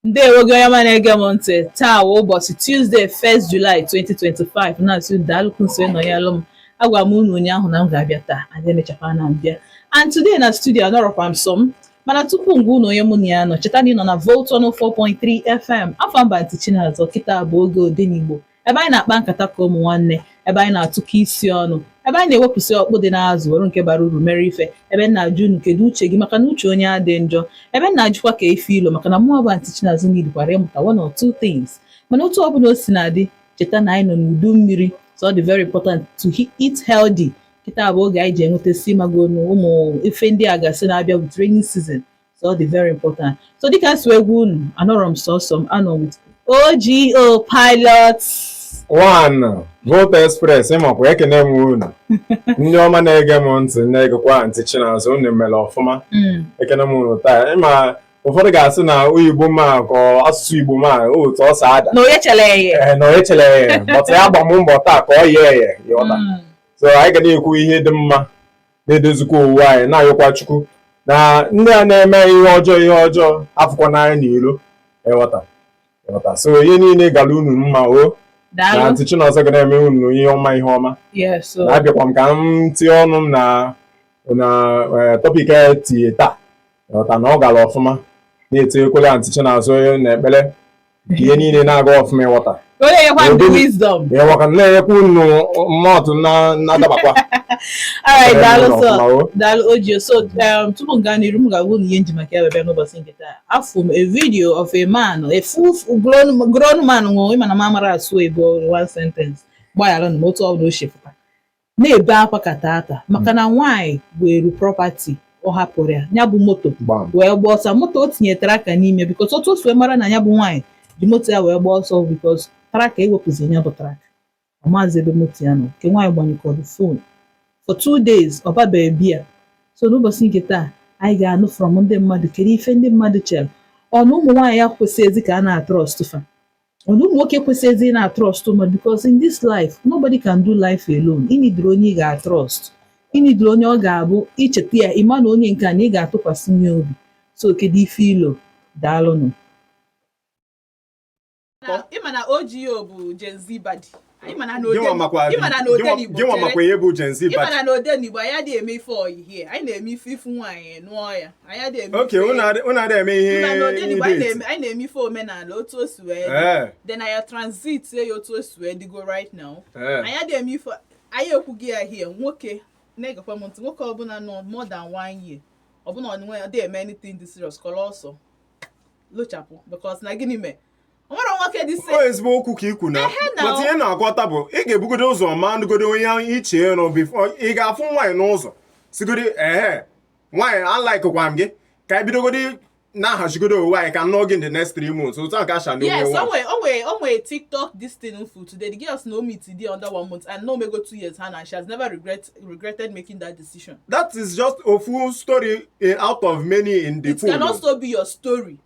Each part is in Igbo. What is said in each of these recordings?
ndewo gị onye ọma na-ege m ntị taa wụ ụbọchị Tuesday 1st July 2025 na-asị daalụkwu nso ịnọnyelụ m agwa m unu ụnyaahụ na m ga-abịa taa aga emechakwa na m bịa and today na studio anọrọkwa m sọ m mana tupu m gwa unu onye mụ na ya nọ cheta na ị nọ na Volt 104.3 FM afa m bụ Aunty Chinazọ kịta bụ oge odenigbo ebe anyị na-akpa nkata ka ụmụ nwanne ebe anyị na-atụkọ isi ọnụ ebe anyị na-ewepụsị ọkpụ dị n'azụ were nke bara uru mere ife ebe m na-ajụ unu kedu uche gị maka na uche onye adị njọ ebe m na-ajụkwa kee ife i lo maka na mụwa bụ Aunty Chinazọ nidikwara ịmụta one or two things mana otu ọ bụla o si na-adị cheta na anyị nọ n'udu mmiri so ọ dị very important to eat healthy kịta bụ oge anyị ji enwetasị ị mago ụmụ ife ndị a gasị na-abịa with rainy season so ọ dị very important so dịka m si agwa unu anọrọ m sọsọ m anọ with OGO pilot one Volt Express ị makwa ekene m unu ndị ọma na-ege m ntị na-egekwa Aunty Chinazọ unu mere ọfụma hmm. ekene m unu taa ị ma ụfọdụ ga-asị na oyibo m a ka asụsụ igbo m a otu o si ada na o yecherọ eye eh, na o yecherọ eye but aya agba m mbọ taa ka o yee eye ịghọta hmm. so anyị ga na-ekwu ihe dị mma na-edozikwa onwe anyị na-ayọkwa chukwu na ndị a na-eme ihe ọjọọ ihe ọjọọ afụkwana anyị n'ilo ịghọta ịghọta so ihe niile gara unu mma ọ na Aunty Chinazọ ga na-eme unu ihe ọma ihe ọma na-abịakwa m ka m tinye ọnụ m na na eh, topic e tinye taa ịghọta na ọ gara ọfụma na-etinyekwala Aunty Chinazọ na ekpere ihe niile na-aga ọfụma ịghọta na-enyekwa unu mmadụ na-adabakwa daalụ OGO so um, tupu m gaa n'iru m ga-agwa unu ihe m ji maka ya bịa n'ụbọchị nke taa afụ m a video of a man a full grown man nwụrụ ị ma na m amara asụ igbo one sentence gbagharanụ m otu ọ bụla o si pụta na-ebe akwa ka tata maka na nwaanyị weru property ọ hapụrụ ya ya bụ moto gbam wee gbaa ọsọ moto o tinye tracker n'ime because otu o si wee mara na ya bụ nwaanyị ji moto ya wee gbaa ọsọ because tracker ewepụzi ya bụ tracker ọ maazị ebe moto ya nọ nke nwaanyị gbanyekọrọ phone for two days ọ babeghị biya so n'ụbọchị nke taa anyị ga-anụ from ndị mmadụ kedu ife ndị mmadụ chere ọ na ụmụ nwaanyị ekwesịghịzi ka a na-atrọst fa ọ na ụmụ nwoke ekwesịghịzi ịna-atrọst woman because in this life nobody can do life alone ị nidiri onye ị ga-atrọst ị nidiri onye ọ ga-abụ i cheta ya ị ma na onye nke a na ị ga-atụkwasịni ya obi so kedu ife i lo daalụnụ ị ma na OGO bụ Gen Z baddie gịnwa makwa ihe bụ Gen Z ị mana na odenigbo anyị adịghị eme ife ọyị here anyị na-eme ife ị fụ nwaanyị nụọ ya anyị adịghị eme oke unu adịghị eme ihe na odenigbo anyị na-eme ife omenala otu o si wee dị then anyị transit ya otu o si wee dịgo right now anyị adịghị eme ife anyị ekwughị ya here nwoke na-egekwa m ntị nwoke ọbụla nọ more than one year ọ bụ na unu na ya adị eme anything dị serious kọrọ ọsọ lochapụ because na gịnị mee nwere nwoke dị se ezigbo okwu ka i kwu na but ihe m na-aghọta bụ ị ga-ebugodo ụzọ malụgodo onye ị chọ ịnụ before ị ga-afụ nwaanyị n'ụzọ sịgodi ehe nwaanyị alikekwa m gị ka anyị bidogodi na-ahazigodo onwe anyị ka m nụọ gị in the next three months otu a ka asha na yes o nwe o nwe o nwe tiktok this thing m fụ today the girl sị na ọ meet di ya under one month and na o mego two years and and she has never regret regretted making that decision. that is just ofu story eh, out of many in the pool. it can also be your story.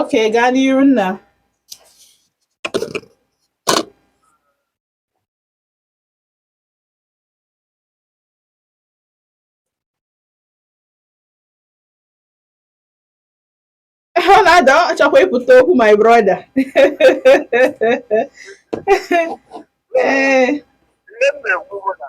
Okay, gaa n'iru nna. Ọ na-ada ọ chọkwa ịpụta okwu my brother. Ee. Ihe m na-ekwu bụ na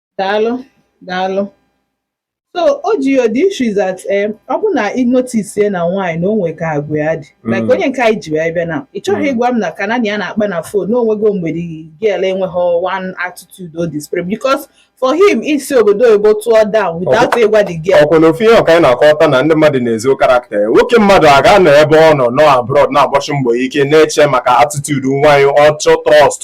daalụ daalụ so o ji ya the issue is that eh, ọ bụ na ị notice na nwaanyị na o nwe ka agwa ya dị like onye nke anyị ji wee bịa na ị chọghị ịgwa m na ka na ya na-akpa na phone na o nwego mgbe the girl enweghị one attitude ọ display because for him isi obodo oyibo tụọ down without ịgwa the girl ọ kwa na ofu ihe ahụ ka anyị na-akọta na ndị mmadụ na-ezo character ya nwoke mmadụ a ga-anọ ebe ọ nọ nọ abroad na-agbasi mbọ ike na-eche maka attitude nwaanyị ọ chọ ịtrust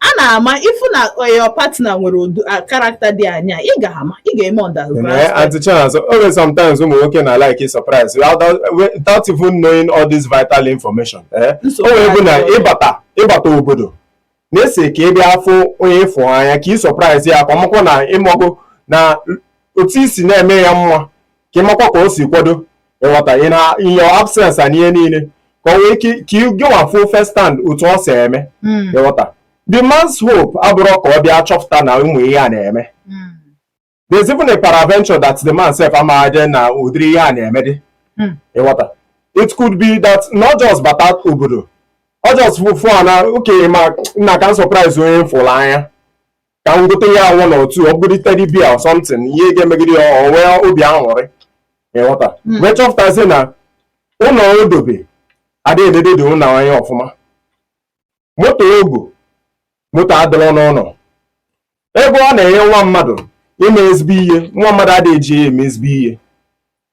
a na-ama ị fụ na your partner nwere ụdị character dị anya ị ga-ama ihe ị ga-eme You understand eh, Auntie Chinasa, always sometimes ụmụ nwoke na-alike surprise without without even knowing all this vital information. Eh? Nsogbu O wee bụ na adịghị. ịbata ịbata obodo na-asị ka ị bịa afụ onye ị fụ n'anya ka ị surprise ya ka ọ makwa na ị nọgo na otu i si na-eme ya mma ka ị makwa ka o si kwado ị ghọta ị na in your absence na ihe niile ka o nwee ike ka ị gịnwa fụ first hand otu o si eme Mm. ị ghọta the man's hope abụrọ ka ọ bịa chọpụta na ụmụ ihe a na-eme Mm. there's even a peradventure that the man self amaghịdị na ụdịrị ihe a na-eme dị Mm. ị ghọta it could be that na ọ just bata obodo ọ just fụ fụ na okenye ma nna ka m surprise onye m fụrụ n'anya ka m gote ya anwụ na otu ọ bụrụ teddy bear or something ihe ga-emegodi ya o nwee obi aṅụrị ị ghọta Hmm. wee chọpụtazie na ụlọ o dobe adịghị eledodị ụlọ anya ọfụma moto o go moto adịrọ n'ụlọ ego ọ na-enye nwa mmadụ ime ezigbo ihe nwa mmadụ adịghị eji ya eme ezigbo ihe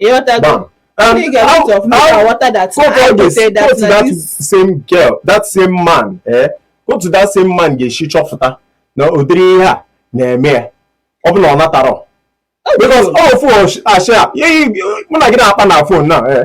Gbam. And you get out of how, water that go I go say that, go to that this. same girl, that same man, eh? Otu that same man ga-esi chọpụta na ụdịrị ihe a na-eme ya. Ọ bụ na ọ natarọ. Because all fon ashia, mụ na gị na-akpa na fon na, eh?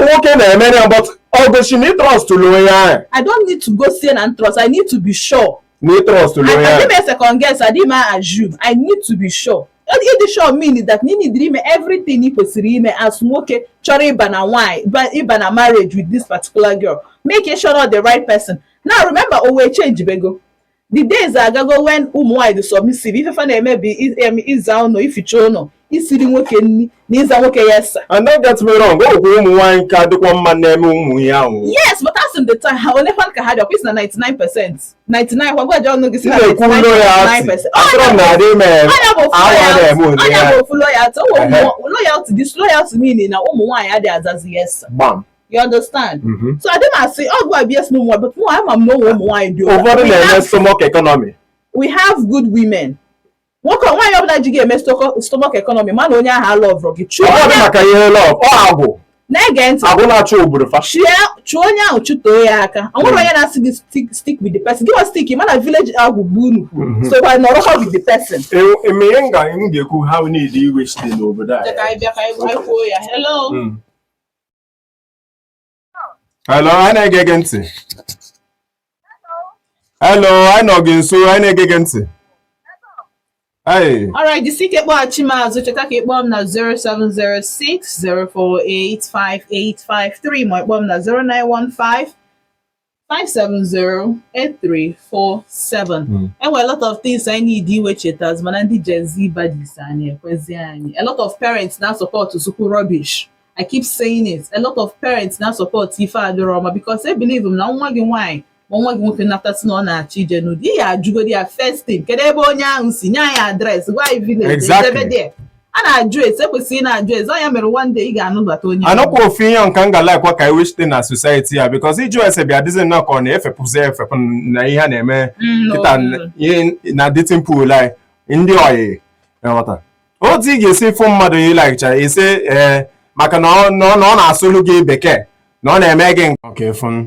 ụmụ nwoke na-eme ya but ọ gosi na ịtrọst onye ahụ I don't need to gosi na trust. I need to be sure. na ịtrọst onye ahụ adịghị m second guess adịghị m assume I need to be sure. ịdị sure mean that ị needịrị ime everything ị kwesịrị ime as nwoke chọrọ ịba na nwanyị ịba na marriage with this particular girl make sure na ọ the right person now remember ụwa echangebego The days agago when ụmụ nwaanyị dị submissive ife fa na-eme bụ ịza ụnọ ificha ụnọ isiri nwoke nni na ịza nwoke yes sir and don't get me wrong o kwuru ụmụ nwaanyị ka dịkwa mma na-eme ụmụ ihe ahụ yes but most of the time ha ole fan ka ha dị ọkwụsị na 99 percent 99 kwa gwaji ọnụ gị si na 99 percent ọnya bụ ofu loyalty ụmụ loyalty disloyalty meaning na ụmụ nwaanyị adịghị azazi yes sir You understand? Mm-hmm. So adịghị m asị, oh, go abuse no more, but no, ama m na o nwe ụmụ nwaanyị dị over the stomach economy. We have good women. nwoke nwaanyị ọbụla ji ga-eme stomach economy mana onye ahụ a lọvụrụ gị chụọ onye maka ihe lọv ọ agwụ na-ege ntị agwụ na-achụ obodo fa chụọ onye ahụ chụtoo ya aka o nwere onye na-asị gị stick with the person gị wa stick mana village agwụ bụ unu so kwa nọrọ ha with the person eme ihe nga m ga-ekwu ha na-ewe iwe site n'obodo a hello anyị na-ege gị ntị hello anyị nọ gị nso anyị na-ege gị ntị Hey. All right, jisike kpọghachi m azụ cheta ka ị kpọọ m na 0706 048 5853 ma ị kpọọ m na 0915 5708347 Mm. e nwere a lot of things anyị needi iwechita azụ mana ndị Gen Z baddies a anaghị ekwezi anyị a lot of parents na-asupport nsokwu rubbish I keep saying it a lot of parents na-asupport ife adịrọ ọma because e believe m na nwa gị nwaanyị ma nwa gị nwoke nata sị na ọ na-achọ ije nụọ di ị ya-ajụgodi ya first thing kedu ebe onye ahụ si nye anyị adres gwa anyị village Exactly. ebe dị a na-ajụ ese e kwesịrị ịna-ajụ ese ọ ya mere one day ị ga-anụbata onye anọkwa ofu ihe nka m ga-alaikwa ka e wechite na society a bikọz ịjụ ese bịa dịzi nnọọ ka ọ na-efepụzi efepụ na ihe a na-eme Mm, kịta no. ihe na dating pool anyị ndị ọyị ghọta otu ị ga-esi fụ mmadụ ị laik ya ị sị ee maka na ọ na ọ- na ọ na-asụlụ gị bekee na ọ na-eme gị nke ọka efu m.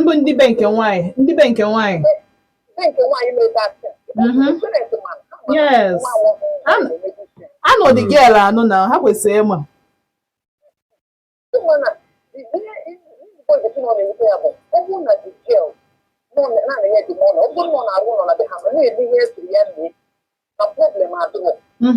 Mbụ ndị be nke nwaanyị, ndị be nke nwaanyị. Ndị nke nwaanyị na-ebe asị. Mhm. Yes. An- I know the girl, I know na ha kwesịrị ịma. Mhm.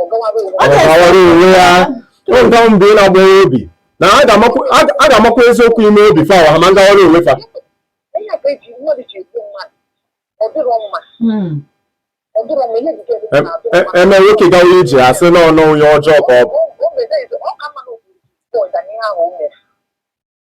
ọ gawara onwe ya ụga mgbe ị na-agbawa obi na a ga-amakwa eziokwu ime obi fa ha ma ngawara onwe fa eme nwoke gawa ije asị na ọnụ onye ọjọọ ka ọ bụ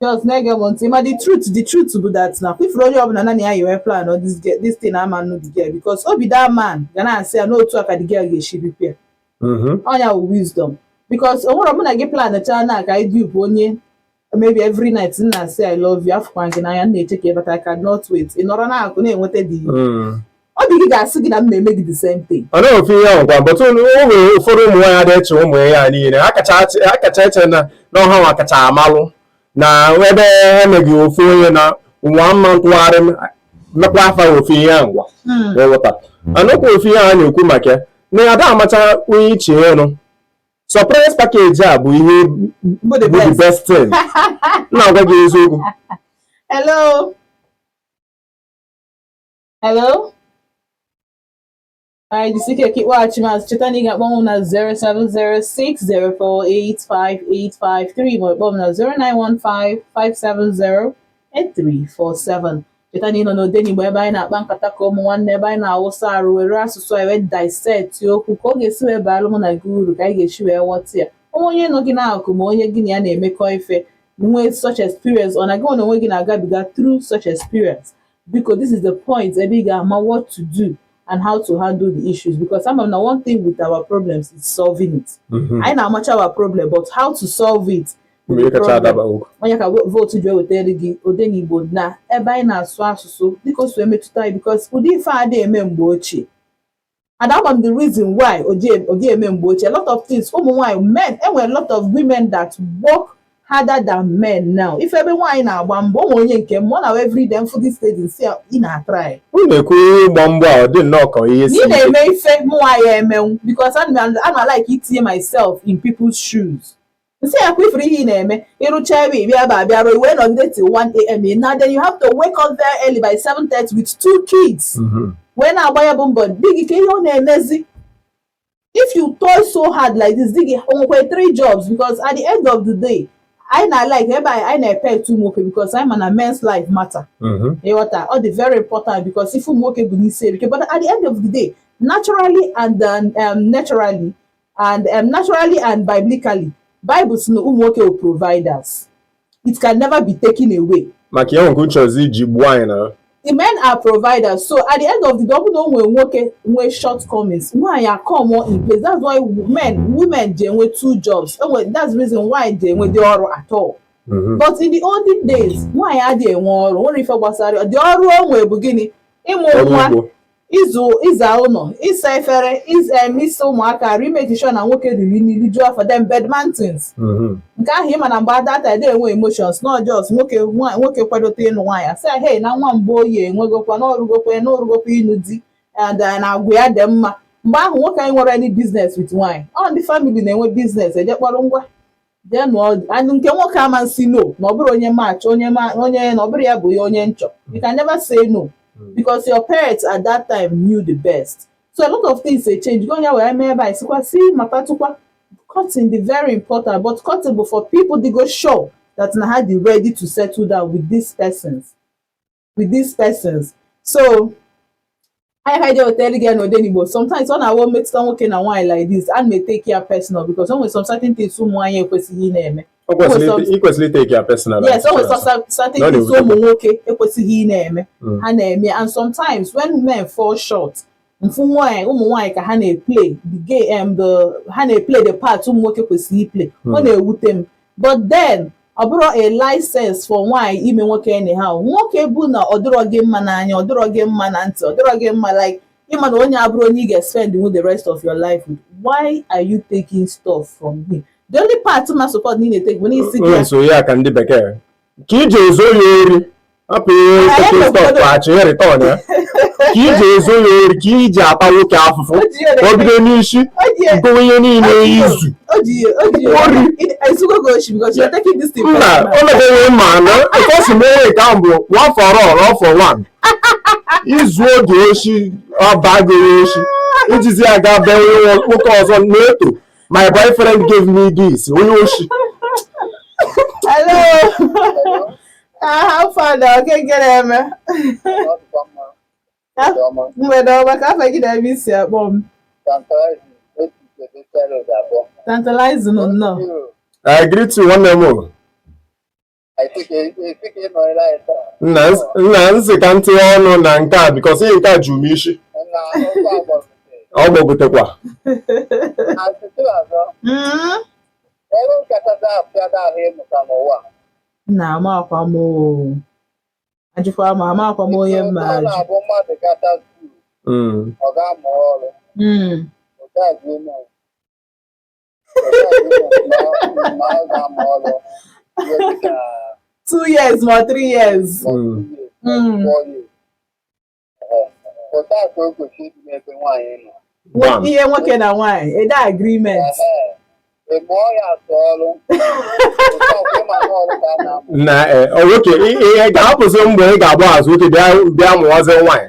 Girls na-ege m ntị ma the truth the truth bụ that na before onye ọbụla nanị ya yiwe plan ọ this girl this thing ama nụ the girl because obi that man ga na-asị ya n'otu a ka the girl ga-esi bịa ọ nya wụ wisdom because o nwere mụ na gị plan chaa na ka anyị dupe onye maybe every night m na-asị I love you afụkwa gị n'anya m na-eche ka ị bata I cannot wait ị nọrọ n'akụkụ na-eweta the ọ dị gị ga-asị gị na m na-eme gị the same thing ọ naghị ofu ihe ahụ gwa but o nwere ụfọdụ ụmụ nwaanyị adị eche ụmụ ya niile ha kacha achị- ha kacha eche na na ọ ha nwa kacha amalụ na ebe emeghị ofu onye na nwa mma ntụgharị m mekwaa fa ofu ihe ahụ gwa eweta anụkwa ofu ihe a na-ekwu maka ya na ada amacha onye iche ọnụ surprise package a bụ ihe bụ the bụ the best best thing na-agwa gị eziokwu hello hello anyị jisi ike ka ị kpọghachi m azụ cheta na ị ga-akpọ m na 07060485853 ma ị kpọọ m na 09155708347 cheta na ị nọ n'Odenigbo ebe anyị na-akpa nkata ka ụmụ nwanne ebe anyị na-awụsa arụ were asụsụ anyị wee dissect okwu ka ọ ga-esi wee baalụ mụ na gị uru ka anyị ga-esi wee ghọta ya o nwee onye nọ gị n'akụkụ ma onye gị na ya na-emekọ ife nwee such experience or na gị onwe gị na-agabiga through such experience because this is the point ebe ị ga-ama what to do and how to handle the issues because ama m na one thing with our problems is solving it Mhm. anyị na-amacha our problem but how to solve it Mgbe ihe kacha adaba okwu. onye ka vootu ji ewetara gị Odenigbo na ebe anyị na-asụ asụsụ dịka o si emetụta anyị because ụdị ife a adị eme mgbe ochie and ama m the reason why ọ dị eme mgbe ochie lot of things ụmụ nwaanyị men e nwere lot of women that work harder than men now ị fụ ebe nwaanyị na-agba mbọ o nwere onye nke m ọ na every day m fụ this lady sị ị na-atry ị na-ekwu ihe ịgba mbọ a ọ dị nnọọ ka ihe si ị na-eme ife mụnwa ya emenwu because ana m like itinye myself in people's shoes nsị ya kwa ifuru ihe ị na-eme ịrụcha ebe ị bịa ebe a bịa rụọ wee nọ until 1am ị na then you have to wake up very early by 7:30 with two kids wee na-agba ya bụ mbọ di gị kee ihe ọ na-emezi if you toil so hard like this di gị o nwekwa three jobs because at the end of the day anyị na-alike ebe anyị anyị na-epe etu ụmụ nwoke because anyị ma na men's life matter ịghọta ọ dị very important because ife ụmụ nwoke bu n'isi erika but at the end of the day naturally and um, um, naturally and um, naturally and biblically Bible sị na ụmụ nwoke wụ providers it can never be taken away maka ya nke unu chọzi iji gbuo anyị na the men are providers so at the end of the day ọ bụrụ na o nwere nwoke nwee shortcomings nwaanyị acome in place that's why men women ji enwe two jobs enwe that's the reason why ji enwedị ọrụ at all Mhm. but in the olden days nwaanyị adịghị enwe ọrụ nwere ife gbasara ya. dị ọrụ o nwere bụ gịnị ịmụ ọrụ nwa ugbo ịzụ ịza ụlọ ịsa efere ịza em, ịsa ụmụaka arụ imake sure na nwoke riri nri rijuo afọ dem bedmantins Mhm. nke ahụ ịma na mgbe adatadị enwe emotions na ọ just nwoke nwa- nwoke kwadote ịnụ nwaanyị asị ya hei na nwa Mgboye enwegokwa na orugokwa na orugokwa ịnụ di and eh, na agwa ya dị mma mgbe ahụ nwoke anaghị enwe any business with nwaanyị ọ ndị family na-enwe business eje kpọrọ ngwa denu and nke nwoke ama nsi no na ọ bụrụ onye match onye ma onye na ọ bụrụ ya bụ ya onye nchọ you can never say no because your parents at that time knew the best so a lot of things dey change go onye wee mee ebe a sikwa si mata tukwa cutting dey very important but cutting bụ for people dey go show that na ha dey ready to settle down with these persons with these persons so ọ ya ka e ji wetara gị ya n'Odenigbo sometimes ọ na-awụ m metụta nwoke na nwaanyị like this ana m etake ya personal because o nwere some certain things ụmụ nwaanyị ekwesịghị na-eme ikwesịrị itake ya personal yes o nwere some certain things ụmụ nwoke ekwesịghị ị na-eme ha na-eme and sometimes when men fall short m fụ nwaanyị ụmụ nwaanyị ka ha na-eplay the game em um, the ha na-eplay the part ụmụ nwoke kwesịrị iplay ọ hmm. na-ewute m but then ọ bụrọ a license for nwaanyị ime nwoke anyhow nwoke bụ na ọ dịrọ gị mma n'anya ọ dịrọ gị mma na ntị ọ dịrọ gị mma like ịma na onye a abụrọ onye ị ga-spend with the rest of your life with why are you taking stuff from him the only part ma support na ị na-etake bụ na isi gị ya so ya ka ndị bekee ka iji ezo ya ori hapụ ihe stuff achị ya return ya ka iji ezo ya ori ka iji ata nwoke afụfụ ka ọ bido n'isi gowe ihe niile izu ori mba o mebeghị ma na because me ka m bụ one for all all for one izu oge oshi ọ bagoro oshi ijizi aga be nwoke ọzọ na-eto My boyfriend gave me this. Onye oshi. Hello. Ah, how far now? Okay, good evening. Mgbede ọma kee afa gị na ebe i si akpọ m. Tantalizing nnọọ. I greet you nwanne m. nna m sị ka m tiye ọnụ na nke a because ihe nke a juru m isi ọ gbọgotekwa nna amakwa m ajụkwa m amakwa m onye m ma-ajụ hmm. ọ ga-amụ ọrụ hmm. two years ma ọ three years ihe nwoke na nwaanyị ede agreement na nwoke ihe ga-ahapụzi mgbe ị ga-agba azụ oke bịa mụwazi nwaanyị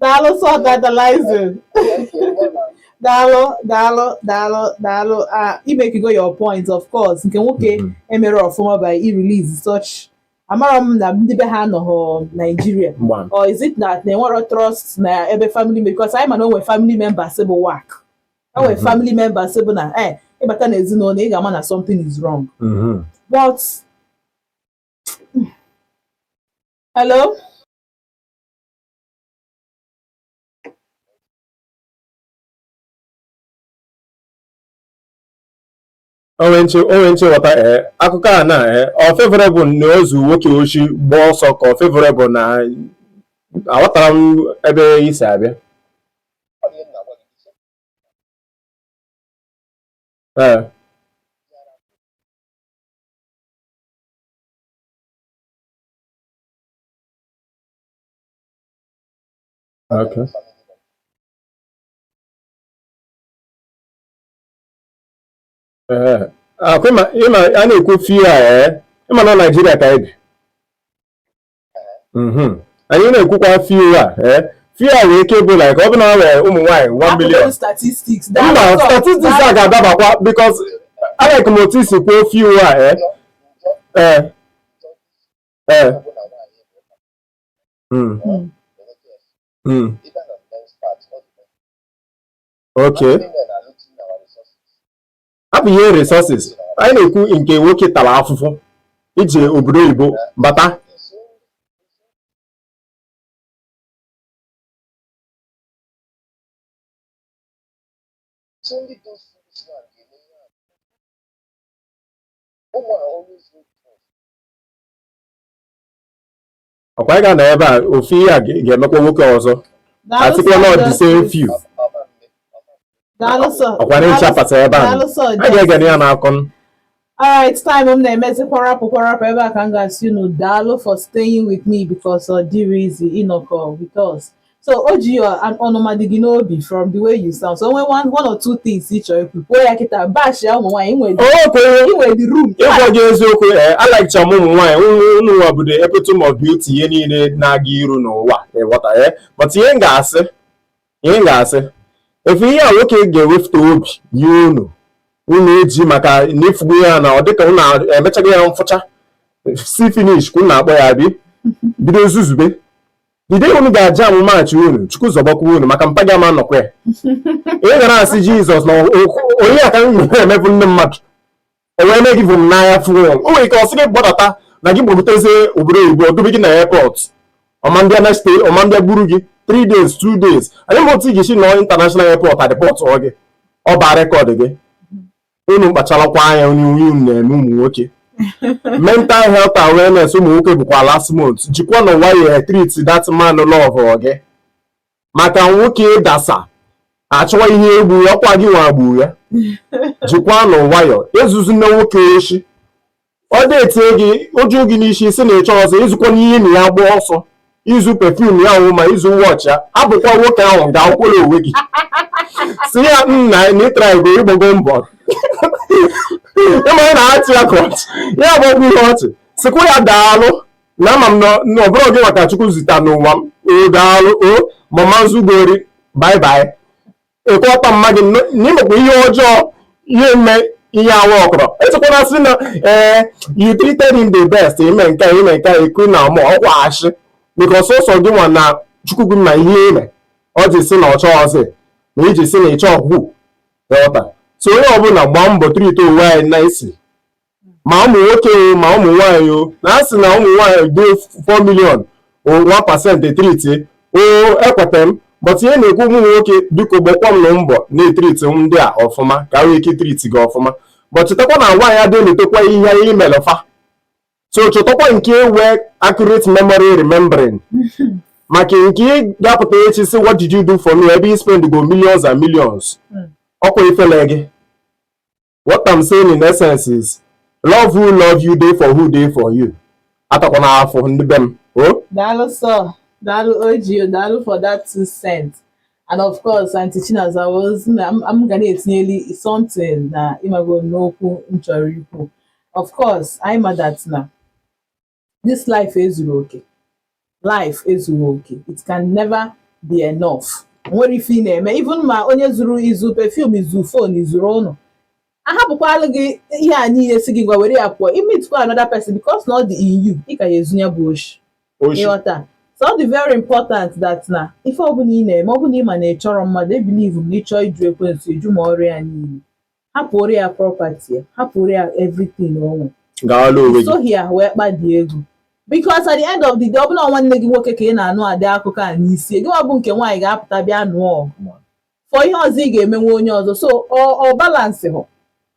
daalụ so tantalizing daalụ daalụ daalụ daalụ ah i makigo your point of course nke nwoke emero ọfụma by irelease such amara m na ndị be ha anọghọ Nigeria Gbam. or is it na na enwero trust na ebe family member because anyị ma na o nwere family members bụ wack o nwere family members bụ na eh ị bata na ezinụlọ ị ga-ama na something is wrong Mhm. but Hello? o nwe m shi ghọta ee eh, akụkọ a na ee eh, ọ favorable na o zuo nwoke oshi gbaa ọsọ ka ọ favorable na aghọtara m ebe i si abịa ee eh. Okay. ọ kwa ị ma ị ma a na-ekwu few ee ị ma na Naịjirịa ka anyị bi anyị na-ekwukwa few a ee few nwere ike ịbụ like ọ bụ na e nwere ụmụ nwaanyị 1 million mba statistics a ga-adabakwa because alike m otu i si kwuo few a ee ee eh. hmm. Hmm. Hmm. okay ọ bụ ihe resources anyị na-ekwu nke nwoke tara afụfụ ije obodo oyibo bata ọkwa anyị ga-anọ ebe a ofu ihe a ga-emekwa nwoke ọzọ asịkwa na ọ deserve you ọkwa na echi apata ebe a a ga-egene ya n'akọ alright time m na-emezi kwarapụ kwarapụ ebe a ka m ga-asị unu daalụ for staying with me because ọ dịrọ easy ịnọkọ with us so o ji ọnụma dị gị n'obi from the way you sound so o nwee one one or two things ị chọrọ ikwu kwuo ya kịta bash ya ụmụ nwaanyị i nwe the room ịgwa gị eziokwu ee eh, alikecha m ụmụ nwaanyị unu nwa bụ the epitome of beauty ihe niile na-aga iru n'ụwa ị ghọta ya eh? but ihe m ga-asị ihe m ga-asị ị fụ ihe a nwoke ga-ewepụta obi nye unu unu eji maka na ị fụgo ya na ọ dịka unu emechago ya mfụcha see finish ka unu na-akpọ ya bi bido zuzube The day unu ga-ajam match unu chukwu zọbakwa unu maka mpa gị ama nọkwa ya ị gara asị jizọs na onye aka m nwere emebụ ndị mmadụ o wee mee gị vum n'anya fụrụ o nwere ike ọ sị gị gbadata na gị gbagotezie obodo oyibo o dobe gị na airport ọ ma abịa next day ọ ma abịa buru gị 3 days 2 days anyị ma otu ị ga-esi nọọ international airport a deportụọ gị ọ baa record gị unu kpacharakwa anya onye onye unu na-eme ụmụ nwoke mental health awareness ụmụ nwoke bụkwa last month jikwanụ nwayọ treat that man love gị maka nwoke ịdasa achọwa ihe egbu ya ọkwa gị nwa gburu ya jikwanụ nwayọ ezuzina nwoke oshi ọ detie gị o ju gị n'isi sị na ị chọọzị izukwa n'ihe na ya gbaa ọsọ izu perfume ya ahụ ma izu watch ya abụkwa nwoke ahụ ga akwụkwọrọ onwe gị sị ya nna na ị trygo ị gbago mbọ ịmara na achị ya ka ọchị ya agbagwo ihe ọchị sịkwa ya daalụ na ama m na ọ bụrọ gị nwa ka chukwu zita n'ụwa m o daalụ o mama nzugori bye bye ekwe ọkpa mma gị na imekwa ihe ọjọọ ihe eme ihe awa ọkọrọ echekwana sị na ee you treated him the best ime nke a ime nke a ekwu na ọmụ ọkwa ashị because sọsọ gị nwa na chukwu gị ma ihe i me o ji sị na ọ chọọzị ma i ji sị na ị chọọkwa ghọta so onye ọbụla gbaa mbọ treatie onwe anyị nicely ma ụmụ nwoke o ma ụmụ nwaanyị o na a sị na ụmụ nwaanyị dị 4 million o 1 pasent etriti o ekweta m but ihe na-ekwu ụmụ nwoke biko gbakwanụ mbọ na-etriti ndị a ọfụma ka ha nwee ike triti gị ọfụma but chetakwa na nwaanyị adị elotekwa ihe e melụ fa so chọtakwa nke nwee accurate memory remembering maka nke ị ga-apụta echi sị what did you do for me ebe ị spendgo millions and millions ọkwa ifele gị what I'm saying in essence is love who love you dey for who dey for you atakwana afọ ndị be m o daalụ sọ daalụ ojio daalụ for that two cents and of course aunty chinazọ ị ma m ga na-etinyeli something na ịmago n'okwu m chọrọ ikwu of course anyị ma that na this life ezuru oke life ezuru oke it can never be enough nwere ife ị na-eme even ma onye zuru izu perfume izu phone izuru ụnụ a hapụkwalụ gị ihe a niile sị gị ngwa were ya pụọ i meetikwa another person because na ọ dị in you ị ka ya ezu ya bụ oshi oshi ị ghọta so ọ dị very important that na ife ọbụla ị na-eme ọ bụrụ na ị ma na ị chọrọ mmadụ ebilivu m na ị chọọ ịjụ ekwensu ị jụ ma ọrụ ya niile hapụrụ ya property ya hapụrụ ya everything onwe gaala onwe gị sohi ya wee kpadi ego because at the end of the day ọ bụrụ na ọ nwanne gị nwoke ka a na-anụ ụdị akụkọ a n'isi ya gịwa bụ nke nwaanyị ga-apụta bịa nụọ ọgụ for ihe ọzọ ị ga-emenwu onye ọzọ so ọ balansịhụ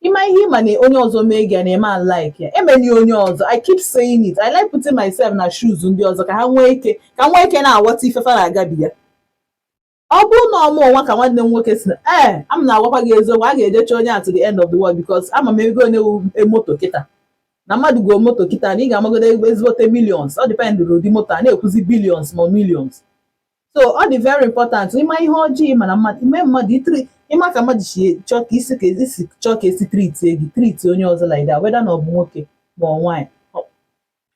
ị ma ihe ị ma na onye ọzọ mee gị na ị ma like ya emeli onye ọzọ i keep saying it i like putting myself na shoes ndị ọzọ ka ha nwee ike ka m nwee ike na-aghọta ife fa na-agabiga ọ bụrụ na ọ mụnwa ka nwanne m nwoke sị na ee a m na-agwakwa gị eziokwu a ga-ejecha onye a to the end of the world because ama m ego one moto kịta na mmadụ goo moto kịta na ị ga-amagodo ezigbote millions ọ dịpendịrị ụdị moto a na-ekwuzi billions ma millions so ọ dị very important ịma ihe ọjọọ ịma na mmadụ ime mmadụ itri ị ma ka mmadụ si chọọ ka i si ka i si chọọ ka e si triti gị triti onye ọzọ like that whether na ọ bụ nwoke ma ọ nwaanyị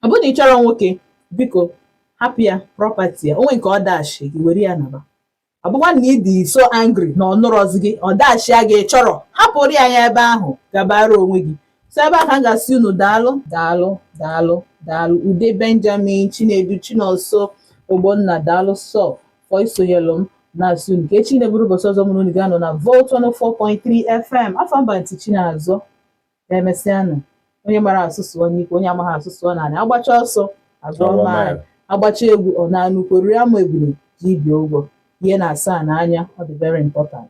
ọ bụrụ na ị chọrọ nwoke biko hapụ ya property ya o nwee nke ọ dashi gị were ya naba ọ bụkwa na ị dị so angry na ọ nụrọzi gị ọ dashịa gị ị chọrọ hapụrụ ya ya ebe ahụ gabara onwe gị so ebe a ka m ga-asị unu daalụ daalụ daalụ daalụ ude benjamin chinedu chinonso ogbonna daalụ sọ for isonyelụ m na-asị unu ka echi na-abụrụ ụbọchị ọzọ mụ na unu ga-anọ na volt 104.3 fm afa m bụ aunty chinazọ ka emesịanụ onye mara asụ sụọ n'ikwe onye amaghị asụ sụọ n'anị agbacha ọsọ a gụọ maịlụ agbacha egwu ọ naa n'ukwu riri amụ ebule ji ibi ụgwọ ihe na-asa a n'anya ọ dị very important